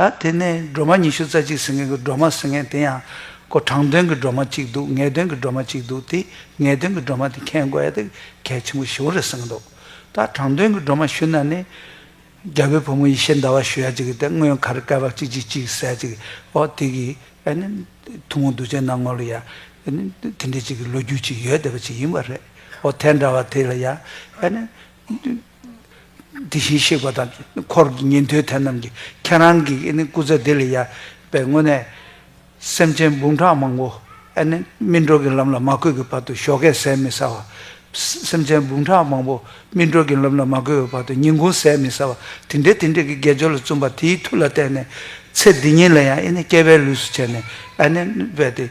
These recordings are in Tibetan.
ད་དེ་ནས་སྒྲོལ་མ་ཉི་ཤུ་རྩ་གཅིག་ཟེར་མཁན་གྱི་སྒྲོལ་མ་ཟེར་མཁན་དེ་ཡང་ཀོ་དྲང་དོན་གྱི་སྒྲོལ་མ་གཅིག་འདུག་ངེས་དོན་གྱི་སྒྲོལ་མ་གཅིག་འདུག་དེ་ངེས་དོན་གྱི་སྒྲོལ་མ་དེ་མཁྱེན་དགོས་ཡ་དེ་གལ་ཆེན་པོ་བཞི་བོ་རེད་གསུངས་གི་འདུག་ད་དྲང་དོན་གྱི་སྒྲོལ་མ་ཞུ་ན་ནི། རྒྱ་བོད་ཕོ་མོ་ཡེ་ཤེས་ཟླ་བ་ཞུ་ཡ་གཅིག་གིས་དེ་སྔོན་གར་སྐལ་བ་གཅིག་གཅིག་གཅིག་ཟེར་ཡ་གཅིག་ཨོ་དེ་གི་ཨ་ནི་ཐུང་ངུ་འདུ་བྱེད་ནང་ངོ་ལ་ཡ་ཨ་ནི་དེ་འདྲའི་གཅིག་གི་ལོ་རྒྱུས་གཅིག་ཡོད་བསྡད་པ་གཅིག་ཡིན་པ་རེད་ཨོ་དེ་འདྲ་བ་དེ་ལ་ཡ་ཨ་ནི། དེ་བཞིན་གཤེགས་པ་དང་འཁོར་གྱི་ཉན་ཐོས་དེ་རྣམས་ཀྱིས་ཁྱེད་རང་གི་སྐུ་ཚེ་འདི་ལས་ཡལ་བའི་སྔོན་ནས། སེམས་ཅན་འབུམ་ཕྲག་མང་པོ་སྨིན་གྲོལ་གྱི་ལམ་ལ་མ་བཀོད་ཀྱི་བར་དུ་ཞོག་ཁས་ཟས་མི་ཟ་བ། སེམས་ཅན་འབུམ་ཕྲག་མང་པོ་སྨིན་གྲོལ་གྱི་ལམ་ལ་མ་བཀོད་པའི་བར་དུ་ཉིན་གུང་ཟས་མི་ཟ་བ། དེ་འདྲའི་དེ་འདྲའི་གྱི་དགེ་སྦྱོར་ལ་བཙུན་པ་དེའི་མཐུ་ལ་བརྟེན་ནས། ཚེ་འདི་ཉིད་ལ་ཡང་སྐྱེ་བའི་ལུས་སུ་བྱས་ནས།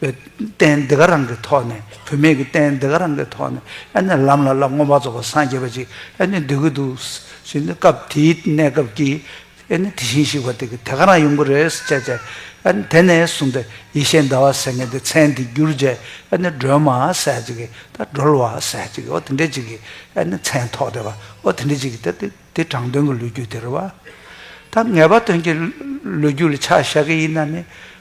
བསྟན། འདི་ག་རང་གི་ཐོག་ནས་བུད་མེད་ཀྱི་བསྟན། འདི་ག་རང་གི་ཐོག་ནས་ཨ་ནི་ལམ་ལ་ལ་སྔོན་མ་རྫོགས་པར་སངས་རྒྱས་པ་ཅིག་ཨ་ནི་འདོད་ཀྱི་འདུག་ཟེར་ནས་སྐབས་དེའི་གནས་སྐབས་ཀྱི་ཨ་ནི་དེ་བཞིན་གཤེགས་པ་དེ་གི་དེ་ག་རང་ཡོང་གི་རེད་ཟེར་བྱས་བྱས་ཨ་ནི་དེ་ནས་བཟུང་སྟེ་ཡེ་ཤེས་ཟླ་བ་ཟེར་མཁན་དེ་མཚན་དེ་བསྒྱུར་རྗེས་ཨ་ནི་སྒྲོལ་མ་ཟེར་ཅིག་གི་ད་སྒྲོལ་བ་ཟེར་ཅིག་གི་འོ་དེ་འདྲས་ཅིག་གི་ཨ་ནི་མཚན་ཐོགས་ཏེ་བ་འོ་དེ་འདྲས་ཅིག་གི་ད་དེ་དྲང་དོན་གྱི་ལོ་རྒྱུས་དེ་རེད་བ། ད་ངེས་པ་དོན་གྱི་ལོ་རྒྱུས་ལ་ཆ་བཞག་གི་ཡིན་ན་ནི་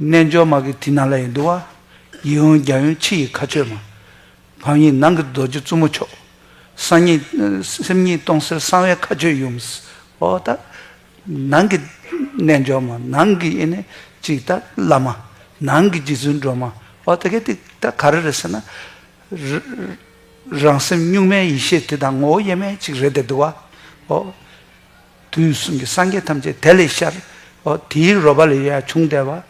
རྣལ་འབྱོར་མ་གི་དྲི་ནཱ་ལེནྡྲུ་བ། ཡིད་འོང་རྒྱ་ཡོན་ཕྱི་ཡི་ཁ་ཆོད་མ། བམ་ཡིག་ནང་གི་རྡོ་རྗེ་བཙུན་མོ་མཆོག། སང་ཉིད་སེམས་ཉིད་སྟོང་གསལ་གསང་བའི་ཁ་ཆོད་ཡུམ། ཧོ་ད། ནང་གི། རྣལ་འབྱོར་མ་ནང་གི་ཡེ་ནས་ཅིག་ད་བླ་མ། ནང་གི་རྗེ་བཙུན་སྒྲོལ་མ་ཧོ་ད་གལ་ཏེ་ད་ག་རེ་རེད་ཟེར་ན། རང་སེམས་གཉུག་མའི་ཡེ་ཤེས་དེ་དང་ངོ་བོ་དབྱེར་མེད་ཅིག་རེད་དེ་འདུ་བ། ཧོ། དུས་གསུམ་གྱི་སངས་རྒྱས་ཐམས་ཅད་དེ་ལས་ཤར། དེའི་རོལ་པ་ལས་ཡར་བྱུང་བདེ་བ།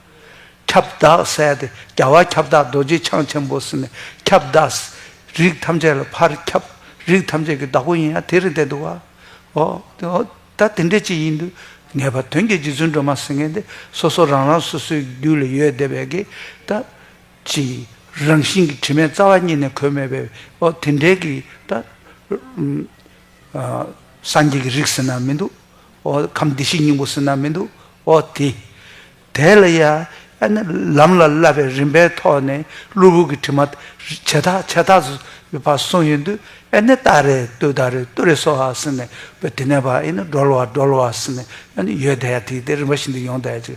ཁྱབ་བདག་གསལ་ཏེ་རྒྱལ་བ་ཁྱབ་བདག་རྡོ་རྗེ་འཆང་ཆེན་པོ་སེམས་དཔའི་ཁྱབ་བདག། རིགས་ཐམས་ཅད་ལ་ཕར་ཁྱབ། རིགས་ཐམས་ཅད་ཀྱི་བདག་པོ་ཡིན་ཡང་དེ་རིང་དེ་འདུག་བ། ད་དེ་འདྲའི་ཅི་ཡིན་དུ། ངེས་པར་དོན་གྱི་རྗེ་བཙུན་སྒྲོལ་མ་སེང་གེ་འདི་སོ་སོ་རང་རང་སོ་སོའི་རྒྱུད་ལ་ཡོད་བདེ་བའི་གེ། ད་ཅི། རང་བཞིན་གྱི་དྲི་མེད་རྩ་བ་ཉིད་ནས་གོས་མེད་པའི། དེ་འདྲའི་གེ། ད། སངས་རྒྱས་ཀྱི་རིགས་ཟེར་ན་མི་འདུག་ཨོ། ཁམས་བདེ་གཤེགས་སྙིང་པོ་ཟེར་ན་མི་འདུག་ཨོ། དེ་དེ་ལ་ཡ། ཨ་ནི་ལམ་ལ་བསླབ་པའི་རིམ་པའི་ཐོག་ནས་གློ་བུར་གྱི་དྲི་མ། བྱེ་ཐག་བྱེ་ཐག་སུ་ཡོད་པ་གསུངས་ཡོད་དུས་ཨེ་ནི་ཏཱ་རེ་ཏུ་ཏཱ་རེ་ཏུ་རེ་སོགས་ཧ་ཟེར་ནས་བོད་དེ་ནས་བ་ཨེ་ནི་སྒྲོལ་བ་སྒྲོལ་བ་ཟེར་ནས་ཨེ་ནི་ཡོད་དེ་ཡ་དེ་དེ་རིམ་པ་བཞིན་དུ་ཡོང་དེ་ཡ་ཅིག་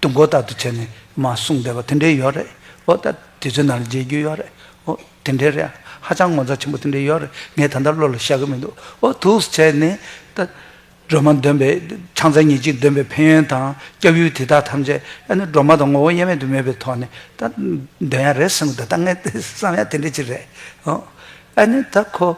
ཏུ་མགོ་བཏགས་ཏུ་བྱས་ནས་མ་གསུངས་བསྡད་པ་དེ་འདྲའི་ཡོད་རེད་ཨོ་ད་དེ་ཚོའི་ནང་ལ་མཇལ་རྒྱུ་ཡོད་རེད་ཨོ་དེ་འདྲའི་རེད་ཧ་ཅང་ངོ་མཚར་ཆེན་པོ་དེ་འདྲའི་ཡོད་རེད་ངས་ད་ལྟ་བློ་ལ་ཤར་གི་མི་འདུག་ཨོ་ཐུགས་སུ་བྱས་ནས་ད། སྒྲོལ་མ་འདོན་པའི་ཆང་རྩལ་ཉིན་གཅིག་འདོན་པའི་ཕན་ཡོན་དང་སྐྱབས་ཡུལ་དེ་དག་ཐམས་ཅད་ཨ་ནི་སྒྲོལ་མ་དང་ངོ་བོ་དབྱེར་མེད་དུ་མེད་པའི་ཐོག་ནས་ད་འདོན་ཡག་རེད་བསམ་གི་འདུག་ད་ངས་བསམ་ཡག་དེ་འདྲ་ཅིག་རེད་ཨོ། ཨ་ནི་ད་ཁོ།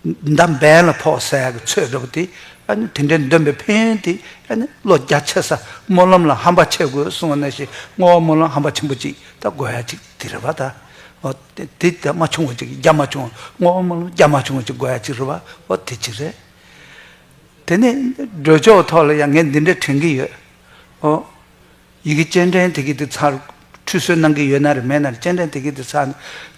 མདའ་འབེན་ལ་ཕོག་ས་གི་ཚོད་སྒྲུབ་དེ་དེ་འདྲའི་འདོན་པའི་ཕན་ཡོན་དེ་བློ་རྒྱ་ཆེ་ས་སྨོན་ལམ་ལ་ཧམ་པ་ཆེ་དགོས་གསུང་བ་ན་ཞེས་བསྔོ་བ་སྨོན་ལམ་ཧམ་པ་ཆེན་པོ་ཅིག་ད་དགོས་ཡ་ཅིག་དེ་རེད་པ་ད་འོ་དེ་ད་མ་བྱུང་བ་ཅིག་རྒྱ་མ་བྱུང་བ་བསྔོ་བ་སྨོན་ལམ་རྒྱ་མ་བྱུང་བ་ཅིག་དགོས་ཡ་ཅིག་རེད་པ་འོ་དེ་ཅིག་རེད། དེ་ནས་འགྲོས་ཆོག་ཐོག་ལ་ཡང་ངས་འདི་འདྲ་དྲན་གི་ཡོད། ཨོ། ཡི་གེ་སྤྱན་འདྲེན་དེ་གི་དེ་ཚར་ཁྲུས་གསོལ་གནང་གི་ཡོད་ན་རེ་མེད་ན་རེ་སྤྱན་འདྲེན་དེ་གི་དེ་ཚར་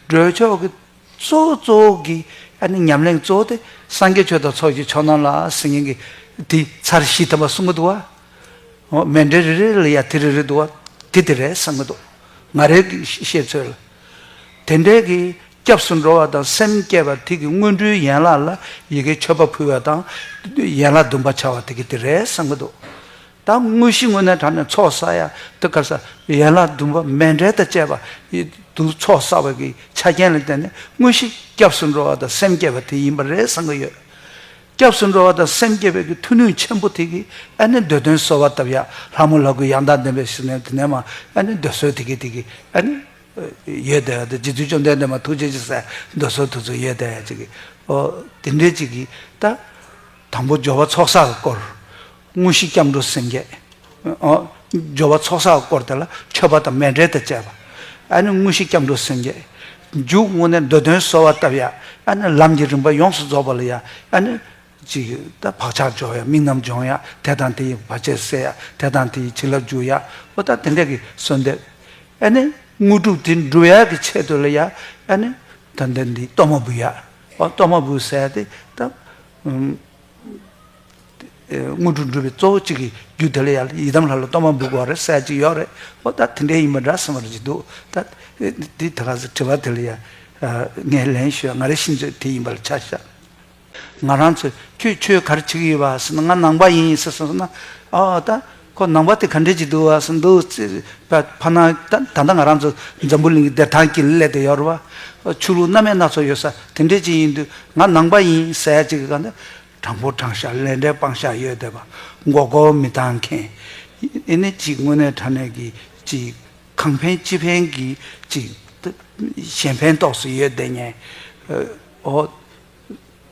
འགྲོས་ཆོག་གི། གཙོ་བོ་གཙོ་བོ་གི་ཉམས་ལེན་གཙོ་བོ་དེ་སངས་རྒྱས་ཆོས་དང་ཚོགས་ཀྱི་མཆོག་རྣམས་ལ་སིང་ངེ་གི་དེ་ཚར་བཞི་ཐོབ་པ་གསུང་གི་འདུག་བ། མེ་འབྲས་རེ་རེ་ལ་ཡང་དེ་རེ་རེ་འདུག་བ། དེ་དེ་རེད་བསམ་གི་འདུག་ང་རེ་གི་ཤེས་ཚོད་ལ། དེ་འདྲའི་གི་སྐྱབས་སུ་འགྲོ་བ་དང་སེམས་བསྐྱེད་པ་དེ་གི་སྔོན་འགྲོའི་ཡན་ལག་ལ་ཡི་གེའི་མཆོད་པ་ཕུལ་བ་དང། ཡན་ལག་བདུན་པ་བྱ་བ་དེ་གི་དེ་རེད་བསམ་གི་འདུག་ད་དངོས་གཞི་དངོས་གནས་དྲ་ནས་ཚོགས་བསགས་ཡ་དུ་གབ་ས་ཡན་ལག་བདུན་པ་མེ་འབྲས་དང་བཅས་པ་དུ་ཚོགས་བསགས་པ་གི་ཆ་རྐྱེན་ལ་བརྟེན་ནས་དངོས་གཞི་སྐྱབས་སུ་འགྲོ་བ་དང་སེམས་བསྐྱེད་པ་དེ་ཡིན་པ་རེད་བསམ་གྱི་ཡོད། སྐྱབས་སུ་འགྲོ་བ་དང་སེམས་བསྐྱེད་པའི་གི་མཐུ་ནུས་ཆེན་པོ་དེ་གི་ཨ་ནི་འདོད་དོན་གསོལ་བ་བཏབ་ཡ་ལྷ་མོ་ལྷ་དགུའི་ཡང་དག་བདེན་པའི་ཞིང་ནས་དེ་ནས་མ་ཨ་ནི་འདོད་གསོལ་དེ་གི་དེ་གི་ཨ་ནི་ཡོད་དེ་ཡ་དེ་རྗེ་བཙུན་བཅོམ་ལྡན་འདས་མ་ཐུགས་རྗེ་ཅི་སེ་འདོད་གསོལ་དུ་ཚུགས་ཡོད་དེ་ཡ་ཅིག་གི། ཨོ་དེ་འདྲའི་ཅིག་གི་ད། དང་པོ་སྦྱོར་བ་ཚོགས་བསགས་ཀྱི་སྐོར། དངོས་གཞི་སྐྱབས་འགྲོ་སེང་གེ། སྦྱོར་བ་ཚོགས་བསགས་བསྐོར་དེ་ལ་མཆོད་པ་དང་མེ་འབྲས་དང་བཅས་པ། ཨ་ནི་དངོས་གཞི་སྐྱབས་འགྲོ་སེང་གེ། འཇུག་དངོས་གནས་འདོད་དོན་གསོལ་བ་བཏབ། ཡ་ཨ་ནི་ལམ་གྱི་རིམ་པ་ཡོངས་སུ་རྫོགས་པ་ལ་ཡ་ཨ་ནི། ཅིག། ད་བག་ཆགས་སྦྱོར་ཡ་དམིགས་རྣམ་སྦྱོང་ཡ་དེ་དང་དེ་ཡི་བར་ཆད་བསལ་ཡ་དེ་དང་དེ་ཡི་བྱིན་རླབས་འཇུག་ཡ་ཨོ་ད་དེ་འབྲས་ཀྱི་གསོལ་འདེབས། ཨ་ནི། དངོས་གྲུབ་དེ་འགྲུབ་ཡ་གི་ཆེད་དུ་ལ་ཡ་ཨ་ནི། ད་འདི་འདིའི་གཏོར་མ་འབུལ་ཡ། ཨོ་གཏོར་མ་འབུལ་བསལ་ཏེ་ད། དངོས་གྲུབ་འགྲུབ་པའི་གཙོ་བོ་གཅིག་གི་རྒྱུ་དེ་ལ་ཡར་ཡི་དམ་ལྷ་ལ་གཏོར་མ་འབུལ་དགོས་བ་རེད་གསལ་གཅིག་ཡོད་རེད་ཨོ་ད་དེ་འདྲས་ཡིན་པ་འདྲ་གསུངས་བ་རེད་ཅིག་འདུག་ད་དེ་ད་ག་ཟེ་དྲི་བ་དེ་ལ་ཡར་ངས་ལན་ཞུས་ང་རེ་ཤི་ཚོད་དེ་ཡིན་པ་ལ་ཆ་བཞག་ང་རང་ཚོས་ཁྱོད་ཆོས་ག་རེ་བྱེད་ཀྱི་ཡོད་བ་ཟེར་ན་ང་ནང་པ་ཡིན་ཟེར་སོང་ཟེར་ན་ཨོ་ད་ཁོ་ནང་པ་དེ་ག་འདྲས་ཅིག་འདུག་བ་ཟེར་འདུག་ཚེ་ཕ་ན་ད་ད་ལྟ་ང་རང་ཚོ་འཛམ་བུ་གླིང་གི་བདེ་ཐང་གི་སླད་དུ་ཡོད་རེད་བ་ཆུ་ལུག་སྣ་མེད་སྣ་ཚོགས་ཡོད་ས་དེ་འདྲས་ཅིག་ཡིན་དུས་ང་ནང་པ་ཡིན་གསལ་གཅིག་གི་ག་འདྲ་དྲང་པོ་དྲང་བཞག་ལས་འབྲས་སྤང་བཞག་ཡོད་བསྡད་པ་མགོ་སྐོར་མི་བཏང་མཁན། ཨེ་ནི་གཅིག་དངོས་གནས་དྲང་གནས་ཀྱི་གཅིག་གང་ཕན་ཅི་ཕན་གྱི་གཅིག་གཞན་ཕན་ཏོག་སུ་ཡོད་བསྡད་ཉན་ཨོ།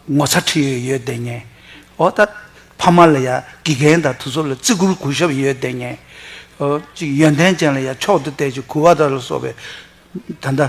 ངོ་ཚ་ཁྲི་ཡོད་ཡོད་བསྡད་ཉན་ཨོ་ད། ཕ་མ་ལ་ཡ་དགེ་རྒན་དང་དུ་ཚོགས་ལ་བརྩི་བཀུར་གུས་ཞབས་ཡོད་བསྡད་ཉན་ཨོ་གཅིག་ཡོན་ཏན་ཅན་ལ་ཡ་མཆོག་ཏུ་གཏད་ཅིག་གུས་བ་དང་ལ་སོགས་པའི་ད་ལྟ།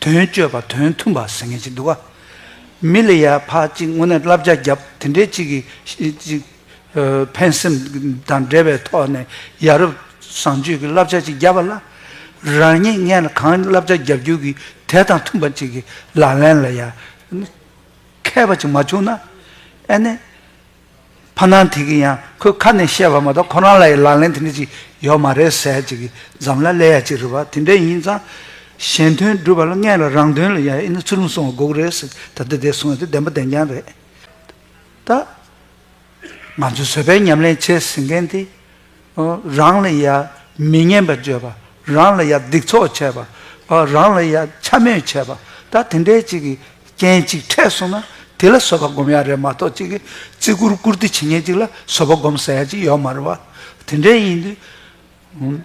དོན་སྤྱོད་པ་དོན་མཐུན་པ་ཟེར་མཁན་ཅིག་འདུག་ག། མི་ལ་ཡར་འཕར་གཅིག་དངོས་གནས་བསླབ་བྱ་བརྒྱབ་དེ་འདྲའི་གཅིག་གིས། ཕན་སེམས་དང་འབྲེལ་བའི་ཐོག་ནས་ཡ་རབས་བཟང་སྤྱོད་ཀྱི་བསླབ་བྱ་ཅིག་བརྒྱབ་པ་ལ། རང་ཉིད་ངན་ལ་གང་བསླབ་བྱ་བརྒྱབ་རྒྱུ་གི་དེ་དང་མཐུན་པ་ཅིག་གི་ལག་ལེན་ལ་ཡར། མཁས་པ་ཅིག་མ་བྱུང་ན། ཨེ་ནས། ཕ་སྣང་དེ་གིས་ཡང་ཁོའི་ཁ་ནས་བཤད་པ་མ་གཏོགས་ཁོ་རང་ལ་ཡི་ལང་ལན་དེ་འདྲ་ཅིག་ཡོད་མ་རེད་ཟེར་ཅིག་གིས་འཛམ་ལ་ཀླད་ཡ་གཅིག་རེད་བ་དེ་འདྲ་ཡིན་ཙང། གཞན་དོན་སྒྲུབ་པ་ལ་མངལ་བའི་རང་དོན་ལ་ཡ་ཡིན་ན་ཚུར་ལུང་སོང་བ་དགོས་ཀྱི་རེད་ཟེར་ད་ལྟ་དེ་སོང་ཡོད་དེ་བདེན་པ་བདེན་རྐྱང་རེད། ད། ང་ཚོས་བཟོད་པའི་ཉམས་ལེན་བྱས་ཟིན་མཁན་དེ། རང་ལ་ཡང་མི་སྙན་པ་བརྗོད་པ། རང་ལ་ཡང་སྡིག་ཚོགས་བྱས་པ། རང་ལ་ཡང་འཕྱ་སྨོད་བྱས་པ། ད་དེ་འདྲའི་ཅིག་གིས་རྐྱེན་གཅིག་འཕྲད་སོང་ན་དེ་ལ་བཟོད་པ་སྒོམ་ཡ་རེད་མ་གཏོགས་ཅིག་གིས་བརྩི་བཀུར་བཀུར་སྟི་བྱེད་མཁན་ཅིག་ལ་བཟོད་པ་སྒོམ་ཟེར་ཡ་ཅིག་ཡོད་མ་རེད་བ། དེ་འདྲའི་ཡིན་དུས།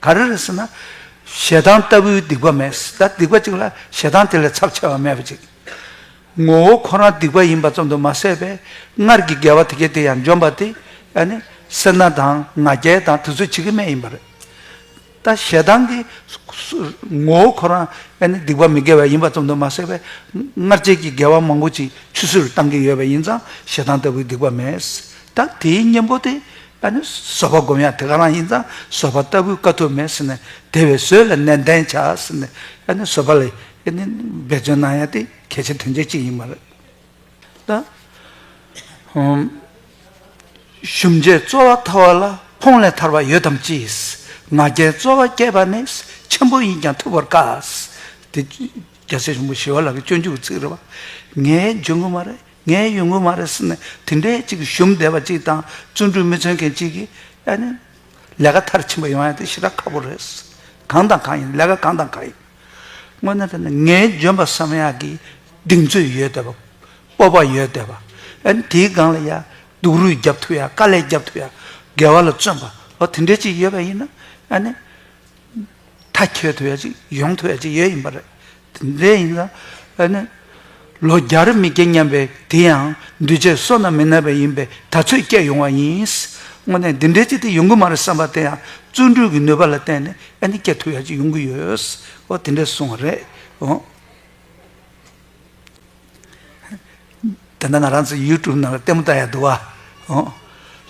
ག་རེ་རེད་ཟེར་ན། ཞེ་སྡང་ལྟ་བུའི་སྡིག་པ་མེད། ད་སྡིག་པ་གཅིག་ལ་ཞེ་སྡང་དེ་ལས་ཚབས་ཆེ་བ་མེད་པ་ཅིག། ངོ་བོ་ཁོ་རང་སྡིག་པ་ཡིན་པ་ཙམ་དུ་མ་ཟད་པས་སྔར་གྱི་དགེ་བ་དེ་སྐད་དེ་ཡང་འཇོམས་པ་དེ། ཡང་ནི་སེར་སྣ་དང་ང་རྒྱལ་དང་དེ་ཚོ་བྱེད་ཀྱི་མེད་ཡིན་པ་རེད། ད་ཞེ་སྡང་གི། ངོ་བོ་ཁོ་རང་ཡང་ནི་སྡིག་པ་མི་དགེ་བ་ཡིན་པ་ཙམ་དུ་མ་ཟད་པས་སྔར་བྱས་ཀྱི་དགེ་བ་མང་པོ་ཅིག་ཆུད་ཟོས་རུ་བཏང་གི་ཡོད་པ་ཡིན་ཙང་ཞེ་སྡང་ལྟ་བུའི་སྡིག་པ་མེད། ད་དེའི་གཉེན་པོ་དེ་ད་ནི་བཟོད་པ་བསྒོམ་ཡང་དེ་ག་རང་ཡིན་ཙང་བཟོད་པ་ལྟ་བུའི་དཀའ་ཐུབ་མེད་ཟེར་ནས་དེ་བས་བཟོད་ལ་ནན་ཏན་བྱ་ཟེར་ནས་ད་ནི་བཟོད་པ་ལས་ཀྱི་ནི་འབད་བརྩོན་གནང་ཡང་དེ་གལ་ཆེ་དོན་ཆེན་ཅིག་ཡིན་མ་རེད། ད་ཧོམ། ཞུམ་བྱའི་རྩོལ་བ་ཐར་བ་ལ་ཕོངས་ལས་ཐར་བ་ཡོད་དམ་ཅི། ང་རྒྱལ་རྩོལ་བ་སྐྱེས་པ་ནི་ཆེན་པོ་ཡིན་ཀྱང་ཐུབ་པར་དཀའ། དེ་རྒྱལ་སྲས་གཞོན་པོ་ཞི་བ་ལགས་ཀྱི་སྤྱོད་འཇུག་གི་ཚིག་རེད་བ། ངའི་འཇོན་ཀུན་མ་རེད་ངའི་ཡུལ་དངུལ་མ་རེད་ཟེར་ནས་དེ་འདྲའི་གཅིག་གི་ཞུམ་བསྡད་པ་གཅིག་དང་བརྩོན་འགྲུས་མི་མཚོན་མཁན་གཅིག་གིས་ཡ་ནི། ལས་ཀ་མཐར་ཕྱིན་པ་ཡོང་ཡ་དེ་ཞེ་དྲག་ཁག་པོ་རེད། གང་དང་གང་ཡིན་ལས་ཀ་གང་དང་གང་ཡིན། དངོས་གནས་དེ་ནི་ངའི་ལྗོན་པ་བསམ་ཡག་གི་གདེང་ཚོད་ཡོད་བསྡད་པ། སྤོབས་པ་ཡོད་བསྡད་པ། ཡ་ནི་དེའི་སྒང་ལ་ཡ། སྡུག་རུས་རྒྱབ་ཐུབ་ཡ་དཀའ་ལས་རྒྱབ་ཐུབ་ཡ། དགེ་བ་ལ་བརྩོན་པ། ཨོ་དེ་འདྲའི་གཅིག་ཡོད་པ་ཡིན་ན། ཡ་ནི། མཐའ་འཁྱོལ་ཐུབ་ཡ་ཅིག་ཡོང་ཐུབ་ཡ་ཅིག་ཡོད་ཡིན་པ་རེད། དེ་ཡིན་ན་ཨ་ནི། ལོ་བརྒྱ་རེ་མི་སྐྱེ་སྙམ་པའི་དེ་ཡང་འདུས་བྱས་བསོད་ནམས་མི་ནག་པའི་ཡིན་པའི་ད་ཚོད་སྐྱེས་ཡོང་བ་ཡིན། དངོས་གནས་འདི་འདྲའི་ཅིག་དེ་ཡོང་གི་མ་རེད་བསམ་པ་དེ་ཡང་བརྩོན་འགྲུས་ཀྱི་ནུས་པ་ལ་བརྟེན་ནས་ཨ་ནི་སྐྱེ་ཐུབ་ཡ་ཅིག་ཡོང་གི་ཡོད། འོ་དེ་འདྲས་གསུང་བ་རེད། དེ་འདྲ་ང་རང་ཚོའི་ཡུལ་གྲུབ་ནང་ལ་ལྟད་མོ་ལྟ་ཡ་འདུག་ཨ།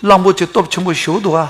གླང་པོ་ཆེ་སྟོབས་ཆེན་པོ་བཞུགས་འདུག་ཨ།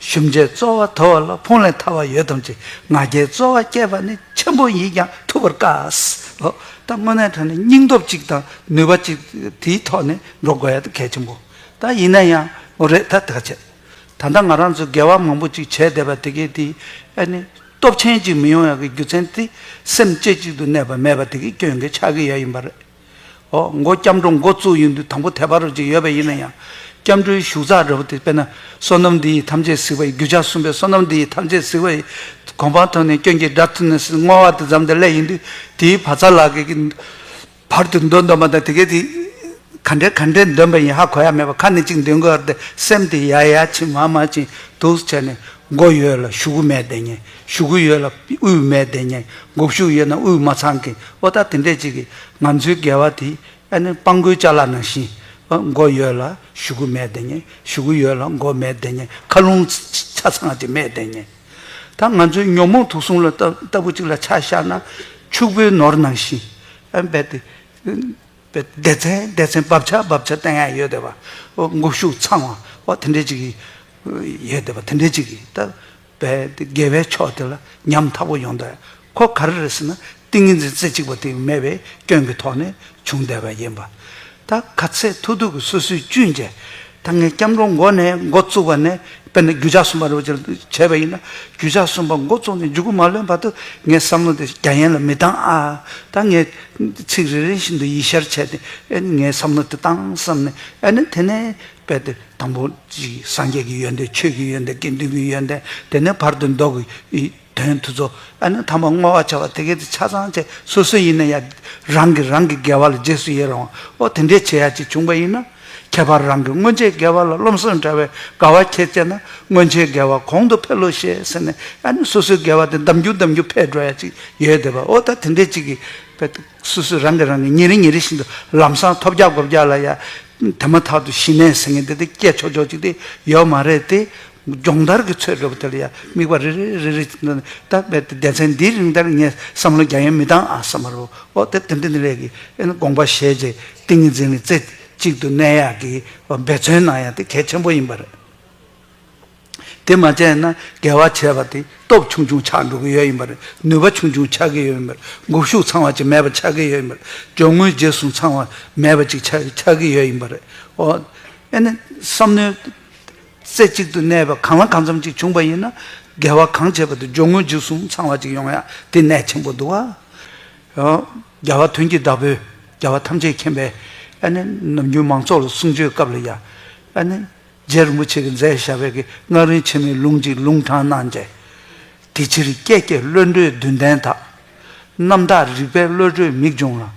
ཞུམ་བྱའི་རྩོལ་བ་དོར་བ་ལ་ཕུང་ལས་ཐར་བ་ཡོད་དམ་ཅི་ང་རྒྱལ་རྩོལ་བ་སྐྱེས་པ་ནི་ཆེན་པོ་ཡིན་ཀྱང་ཐུབ་པར་དཀའ། ད་དངོས་གནས་དོན་ནི་སྙིང་སྟོབས་གཅིག་དང་ནུས་པ་གཅིག་དེའི་ཐོག་ནས་འགྲོ་དགོས་ཡ་ད་གལ་ཆེན་པོ་ད་ཡིན་ན་ཡང་འོ་རེད་ད་ཐག་ཆད། ད་ལྟ་ང་རང་ཚོས་འགལ་བ་མང་པོ་ཅིག་བྱས་བསྡད་པ་དེ་གའི་དེའི་ཨ་ནི་སྟོབས་ཆེན་ཅིག་མི་ཡོང་ཡ་གི་རྒྱུ་ཚན་དེ་སེམས་བསྐྱེད་ཅིག་ཏུ་གནས་པ་མེད་པ་དེ་གའི་སྐྱོན་གྱི་ཆ་གི་ཡ་ཡིན་པ་རེད། ཨོ་མགོ་སྐྱབས་འགྲོ་མགོ་བཙུགས་ཡོད་འདུག་དང་པོ་དལ་བ་རུ་ཅིག་ཡོད་པ་ཡིན་ན་ཡང་སྐྱབས་འགྲོའི་བཞུགས་ཚག་རེད་བོ་དེ་དཔེར་ན་བསོད་ནམས་འདི་ཡིས་ཐམས་ཅད་གཟིགས་པ་ཡི་རྒྱུ་ཆ་གསུམ་པའི་བསོད་ནམས་འདི་ཡིས་ཐམས་ཅད་གཟིགས་པ་ཡི་གོ་འཕང་ཐོབ་ནས་སྐྱོན་གྱི་དགྲ་ཐུབ་ནས་སྲིད་བསྔོ་བ་དེ་ཙམ་དེ་ལས་ཡིན་དུས་དེའི་བ་ཚྭ་ལག་གི་བར་དུ་འདོན་འདོན་པ་དང་དེ་གས་དེ་ག་འདྲའི་ག་འདྲའི་འདོན་པ་ཡིན་ཧ་གོ་ཡ་མེད་པར་ཁ་ནས་ཅིག་འདོན་དགོས་ཡ་རེད་དེ་སེམས་དེ་ཡ་ཡ་ཕྱིན་མ་མ་ཕྱིན་དུགས་བྱས་ནས་མགོ་ཡོད་ལ་བཞུགས་མེད་བསྡད་ཉེ་ཞུ་གི་ཡོད་ལ་དབུས་མའི་བདེ་ཉེར་འགོག་ཤུགས་ཡོད་ན་དབུས་མ་ཚང་གི་བློ་ཐག་དེ་འདྲས་ཅིག་གིས་ང་ཚོའི་འགལ་བ་དེ་ཨ་ནི་སྤང་དགོས་ཅག་ལ་ནང་བཞིན་འགོ་ཡོད་ལ་ཞུ་གི་མེད་བདེ་ཉེར་ཞུ་གི་ཡོད་ལ་འགོ་མེད་བདེ་ཉེར་མཁའ་རླུང་ཆ་ཚང་ཅིག་མེད་བདེ་ཉེར་ད་ང་ཚོའི་ཉོན་མོངས་དུག་གསུམ་ལ་ལྟ་བུ་ཅིག་ལ་ཆ་བཞག་ན་ཕྱུག་པོའི་ནོར་ནང་བཞིན་འབད་དེ་འབད་དེ་བདེ་ཚན་བདེ་ཚན་འབབ་ཆག་འབབ་ཆག་སྟེང་ཡང་ཡོད་བདེ་བ་འགོག་ཤུགས་ཚང་བ་དེ་འདྲས་ཅིག་གིས་ཡོད་བདེ་བ་དེ་འདྲས་ཅིག་གིས་ད། པའི་དགེ་བའི་ཕྱོགས་དེ་ལ་ཉམ་མཐའ་པོ་ཡོང་དོན་གོ་ག་རེ་རེད་ཟེར་ན་ཏིང་ངེ་འཛིན་རྩེ་གཅིག་པ་དེ་མེད་པའི་སྐྱོན་གྱི་ཐོག་ནས་བྱུང་བསྡད་པ་ཡིན་པ། ད་ག་ཚད་ཐུག་ཐུག་གི་སོ་སོའི་བཅུད་འཇལ། ད་ངས་སྐྱབས་འགྲོ་མགོ་ནས་མགོ་བཙུགས་པ་ནས་དཔེར་ན་རྒྱུ་ཆ་གསུམ་པ་རེ་བ་ཅིག་བྱས་པ་ཡིན་ན་རྒྱུ་ཆ་གསུམ་པ་མགོ་བཙུགས་ནས་འཇུག་གི་མ་ལོན་བར་དུ་ངའི་བསམ་བློ་དེ་རྒྱ་ཡན་ལ་མི་བཏང་ཨ། ད་ངས་ཚིག་རེ་རེ་བཞིན་དུ་ཡིད་ཤར་བྱས་ཏེ་ཨེ་ནི་ངའི་བསམ་བློ་དེ་བཏང་བསམ་ནས་ཨེ་ནི་དེ་ནས་དཔེ་དེབ་དང་པོ་གཅིག་སངས་རྒྱས་ཀྱི་ཡོན་ཏན་ཆོས་ཀྱི་ཡོན་ཏན་དགེ་འདུན་གྱི་ཡོན་ཏན་དེ་ནས་བར་དུ་མདོ་གི་དོན་དུ་རྫོགས་ཨ་ནི་ཐ་མ་བསྔོ་བ་བྱ་བ་དེ་སྐད་ཅེས་ཆ་ཚང་བཅས་སོ་སོའི་ཡིན་ན་ཡང་རང་གིས་རང་གི་དགེ་བ་ལ་རྗེས་སུ་ཡི་རང་བའོ་དེ་འདྲའི་བྱེད་ཡ་གཅིག་བྱུང་བ་ཡིན་ན། ཁྱད་པར་རང་གི་སྔོན་ཆད་དགེ་བ་ལ་རློམ་སེམས་འདྲ་བའི་དགའ་བ་ཁྱེད་བསྐྱེད་ན་སྔོན་ཆད་དགེ་བ་གོང་དུ་འཕེལ་ལོ་ཞེས་ཟེར་ནས་ཨ་ནི་སོ་སོའི་དགེ་བ་དེ་འདམ་རྒྱུག་འདམ་རྒྱུག་འཕེལ་འགྲོ་ཡ་གཅིག་ཡོད་དེ་པའོ་ད་དེ་འདྲའི་གཅིག་གིས་དཔེ་དེབ། སུ་སུ་རང་གིས་རང་གིས་ཉིན་རེ་ཉིན་རེ་བཞིན་དུ་ལམ་སང་ཐོབ་རྒྱག་སྒོབ་རྒྱག་ལ་ཡ། དེ་མ་ཐག་ཏུ་ཞི་གནས་ཟེར་མཁན་དེ་དེ་སྐད་ཆོག་ཆོག་ཅིག་དེ་ཡོད་མ་རེད་དེ། སྦྱོང་བརྡར་གྱི་ཚོད་དགོས་པ་དེ་ལ་ཡ་དམིགས་པ་རེ་རེ་རེ་རེ་བྱེད་ནས་ད་རྦད་དེ་སྡེ་ཚན་འདིའི་རིང་ལྟར་ངས་བསམ་བློ་རྒྱ་ཡན་མི་བཏང་ཨ་བསམ་མ་རུ་ཨོ་དེ་དེ་འདི་འདི་ལས་ཀྱི་ཨེ་ན་དགོངས་པ་བཞེས་རྗེས་ཏིང་ངེ་འཛིན་ལ་རྩེ་གཅིག་ཏུ་གནས་ཡག་གི་འབད་བརྩོན་གནང་ཡག་དེ་གལ་ཆེན་པོ་ཡིན་པ་རེད། དེ་མ་བྱས་ན་འགལ་བ་བྱས་པ་དེ་སྟོབས་ཆུང་ཆུང་ཆགས་འགྲོ་གི་ཡོད་ཡིན་པར་ནུས་པ་ཆུང་ཆུང་ཆགས་ཀྱི་ཡོད་ཡིན་པར་འགུག་ཤུགས་ཚང་བ་ཅིག་མེད་པ་ཆགས་ཀྱི་ཡོད་ཡིན་པར་གྱོང་ངོས་རྗེས་བཟུང་ཚང་བ་མེད་པ་ཅིག་ཆགས་ཀྱི་ཡོད་ཡིན་པ་རེད། ཨོ། བསམ་མནོའི་རྩེ་གཅིག་ཏུ་གནས་པ་གང་ལ་གང་འཚམ་ཅིག་བྱུང་བ་ཡིན་ན། འགལ་བ་གང་བྱས་པ་དེ་གྱོང་ངོས་རྗེས་བཟུང་ཚང་བ་ཅིག་ཡོང་ཡ་དེ་གནད་ཆེན་པོ་འདུག་ཨ། རྒྱལ་བ་དོན་གྱི་བདག་པོས་རྒྱལ་བ་ཐམས་ཅད་མཁྱེན་པའི། ནམ་རྒྱུན་མང་ཚོགས་ལ་གསུང་ཆོས་སྐབས་ལ་ཡ། རྗེར་མུ་ཆེ་གི་མཛད་བཞག་བས་ཀྱི་སྔགས་རིང་ཕྱི་མའི་ལུང་གཅིག་ལུང་དྲངས་གནང་མཛད། དེ་ཕྱིར་ཀྱེ་ཀྱེ་བློ་གྲོས་བདུན་ལྡན་དག། རྣམ་དག་རིག་པའི་བློ་གྲོས་མིག་འབྱུང་ལ།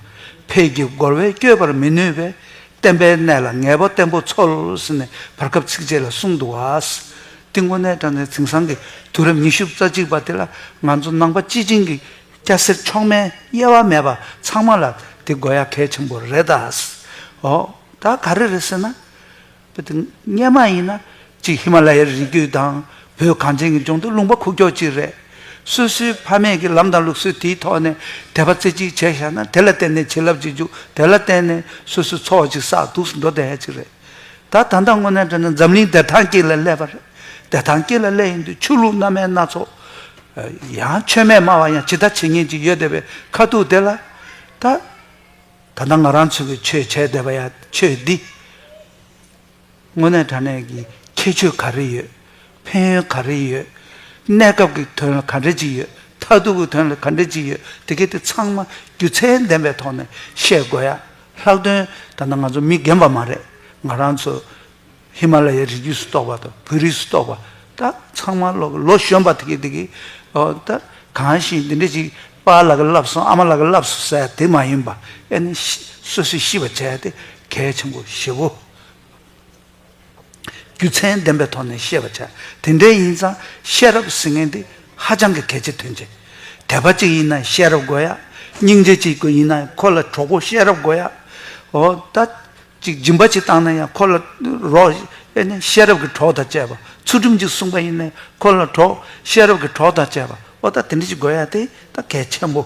ཕས་ཀྱི་རྒོལ་བས་བསྐྱོད་པར་མི་ནུས་པའི། བསྟན་པའི་གནས་ལ་ངེས་པ་བརྟན་པོ་འཚོལ། ཟེར་ནས་བར་སྐབས་ཚིགས་བཅད་ལ་གསུངས་འདུག་བ། ཏིང་ཀོ་ནའི་བཀྲ་མཛེས་དེང་སང་གི་དུས་རབས་ཉི་ཤུ་རྩ་གཅིག་པ་དེ་ལ་ང་ཚོ་ནང་པ་སྤྱི་བྱིངས་ཀྱི་སྐྱ་སེར་མཆོག་དམན་དབྱེ་བ་མེད་པ་ཚང་མ་ལ་དེ་དགོས་ཡ་གལ་ཆེན་པོ་རེད་ད། འོ་ད་ག་རེ་རེད་ཟེར་ན། བོད་དུ་གཉེར་མ་ཡིན་ན་གཅིག་ཧི་མ་ལ་ཡའི་རི་རྒྱུད་དང་བོད་གངས་ཅན་གྱི་ལྗོངས་དུ་ལུང་པ་ཁུག་ཀྱོག་ཅིག་རེད། སོ་སོའི་ཕ་མེས་ཀྱི་ལམ་དང་ལུགས་སྲོལ་དེའི་ཐོག་ནས་དད་པ་རྩེ་གཅིག་བྱས་བཞག་ན་དེ་ལ་བརྟེན་ནས་བྱིན་རླབས་ཅིག་འཇུག་དེ་ལ་བརྟེན་ནས་སོ་སོའི་འཚོ་བ་ཅིག་བསགས་འདུག་ཟིན་ཐོ་དད་ཧད་ཅིག་རེད། ད་ད་ལྟ་དངོས་གནས་དྲན་ན་འཛམ་གླིང་བདེ་ཐང་སྐྱིད་ལ་སླེབས་པ་རེད། བདེ་ཐང་སྐྱིད་ལ་སླེབས་ཡིན་དུས་ཆོས་ལུགས་སྣ་མའི་སྣ་ཚོགས། ཡང་ཆོས་མེད་སྨྲ་བ་ཡང་ཇི་ལྟར་བྱེད་ཉེན་ཅིག་ཡོད་བསྡད་པའི་ཁ་ཐུག་དེ་ལ། ད། ད་ལྟ་ང་རང་ཚོས་ཆོས་བྱས་བསྡད་པ་ཡ་ཆོས་འདི། དངོས་གནས་དྲ་གནས་ཀྱི་ཁྱད་ཆོས་ག་རེ་ཡོད། ཕན་ཡོན་ག་རེ་ཡོད། གནས་སྐབས་ཀྱི་དོན་ལ་ག་འདྲ་ཅིག་ཡོད་མཐའ་སྡུག་གི་དོན་ལ་ག་འདྲ་ཅིག་ཡོད་དེ་གལ་ཏེ་ཚང་མ་རྒྱུ་མཚན་ལྡན་པའི་ཐོག་ནས་བཤད་དགོས་ཡ། ལྷག་དོན་ད་ལྟ་ང་ཚོ་མི་རྒན་པ་མ་རེད་ང་རང་ཚོ། ཧི་མ་ལ་ཡའི་རི་རྒྱུད་སུ་གཏོགས་པ་དང་བོད་རིགས་སུ་གཏོགས་པ་ད་ཚང་མ་ལོ་ལོ་གཞོན་པ་དེ་གི་ད་གང་ཞིག་འདི་འདྲ་ཅིག་དཔའ་ལ་གི་བསླབས་སོང་ཨ་མ་ལ་གི་བསླབས་སོ་ཟེར་དེ་མ་ཡིན་པ་ཨེ་ནི་སོ་སོས་ཤེས་པ་བྱས་ཏེ་གལ་ཆེན་པོ་ཞེ་བོ། རྒྱུ་མཚན་ལྡན་པའི་ཐོག་ནས་བཤད་པ་བྱ་དེ་འདྲའི་ཡིན་ཙང་ཤེས་རབ་ཟེར་མཁན་དེ་ཧ་ཅང་གི་གལ་ཆེ་དོན་ཆེ། དད་པ་ཅིག་ཡིན་ན་ཤེས་རབ་དགོས་ཡ། སྙིང་རྗེ་ཅིག་ཡིན་ན་ཁོ་ལ་གྲོགས་པོ་ཤེས་རབ་དགོས་ཡ། འོ་ད། ཅིག་སྦྱིན་པ་ཅིག་བཏང་ན་ཡང་ཁོ་ལ་རོགས། ཨེ་ནས་ཤེས་རབ་ཀྱི་གྲོགས་དང་བཅས་པ་ཚུལ་ཁྲིམས་ཅིག་བསྲུངས་པ་ཡིན་ནས་ཁོ་ལ་གྲོགས། ཤེས་རབ་ཀྱི་གྲོགས་དང་བཅས་པ་ཨོ་ད་དེ་འདྲ་ཅིག་དགོས་ཡ་དེ་ད་གལ་ཆེན་པོ།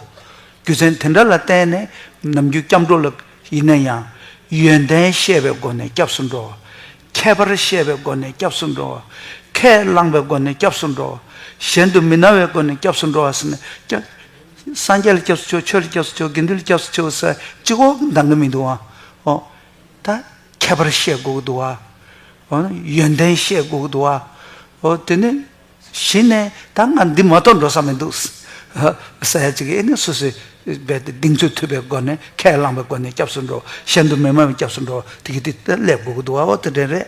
རྒྱུ་མཚན་དེ་འདྲ་ལ་བརྟེན་ནས་ནམ་རྒྱུན་སྐྱབས་འགྲོ་ལ་ཡིན་ན་ཡང། ཡོན་ཏན་ཤེས་པའི་སྒོ་ནས་སྐྱབས་སུ་འགྲོ། ཁྱད་པར་ཤེས་པའི་སྒོ་ནས་སྐྱབས་སུ་འགྲོ། ཁས་བླངས་པའི་སྒོ་ནས་སྐྱབས་སུ་འགྲོ། གཞན་དུ་མི་སྣང་བའི་སྒོ་ནས་སྐྱབས་སུ་འགྲོ་བ་སེ་ན། སངས་རྒྱས་ལ་སྐྱབས་སུ་མཆིའོ་ཆོས་ལ་སྐྱབས་སུ་མཆིའོ་དགེ་འདུན་ལ་སྐྱབས་སུ་མཆིའོ་ཟེར་གཅིག་ཨོ་འདང་གི་མི་འདུག་ཨོ། ད་ཁྱད་པར་བཤད་དགོས་ཀྱི་འདུག་ཨོ། ཡོན་ཏན་བཤད་དགོས་ཀྱི་འདུག་ཨོ། དེ་ནས་གཞི་ནས་ད་ང་འདི་མ་གཏོགས་འགྲོ་ས་མི་འདུག་ཟེར་ཡ་གཅིག་ཨེ་ནས་སོ་སོས་རྦད་དེ་གདིང་ཚོད་ཐུབ་པའི་སྒོ་ནས་ཁས་བླངས་པའི་སྒོ་ནས་སྐྱབས་སུ་འགྲོ་གཞན་དུ་མི་མ་མི་སྐྱབས་སུ་འགྲོ་དེ་གི་དེ་ལས་དགོས་ཀྱི་འདུག་ཨོ་དེ་འདྲའི་རེད།